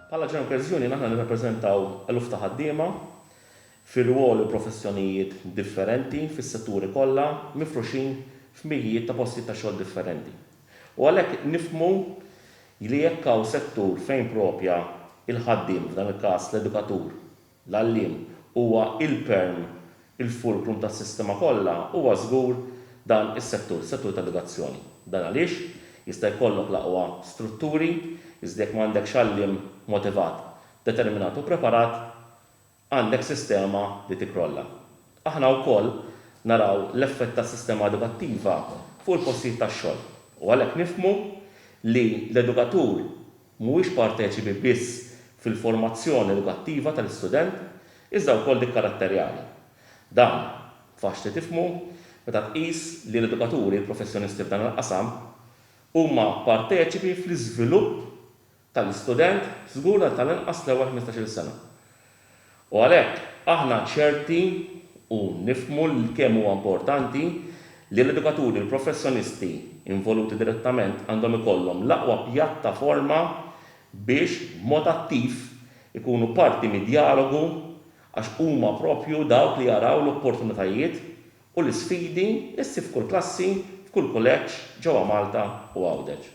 Bħala General Credits Union aħna nirrappreżentaw eluf ta' ħaddiema fi rwoli u professjonijiet differenti fis-setturi kollha mifruxin f'mijijiet ta' postijiet ta' xogħol differenti u għalhekk nifhmu li jekk hawn settur fejn proprja il-ħaddiem, f'dan il-każ l-edukatur, l-għalliem huwa il-perm, il-fulcrum tas-sistema kollha, huwa żgur dan is-settur, is-settur tal-edukazzjoni. Dan għaliex jista' jkollok l-aqwa strutturi, iżda jekk ma għandekx għalliem motivat, determinat u preparat, għandek sistema li tikkrolla. Aħna wkoll naraw l-effett tas-sistema edukattiva fuq il-postijiet tax-xogħol u għalhekk nifhmu li l-edukatur, mhuwiex parteċipi biss fil-formazzjoni edukattiva tal-istudent iżda wkoll dik karatterjali. Dan, faċli tifhmu, meta tqis li l-edukaturi professjonisti f'dan il-qasam huma parteċipi fl-iżvilupp tal-istudent żgur għal tal-inqas l-ewwel ħmistax-il sena. U għalhekk, aħna ċerti u nifhmu kemm huwa importanti li l-edukaturi u l-professjonisti involuti direttament għandhom ikollhom l-aqwa pjattaforma biex, b'mod attiv, ikunu parti mid-djalogu għax huma proprju dawk li jaraw l-opportunitajiet u l-isfidi li ssib f'kull klassi, f'kull kuleġġ ġewwa Malta u Għawdex.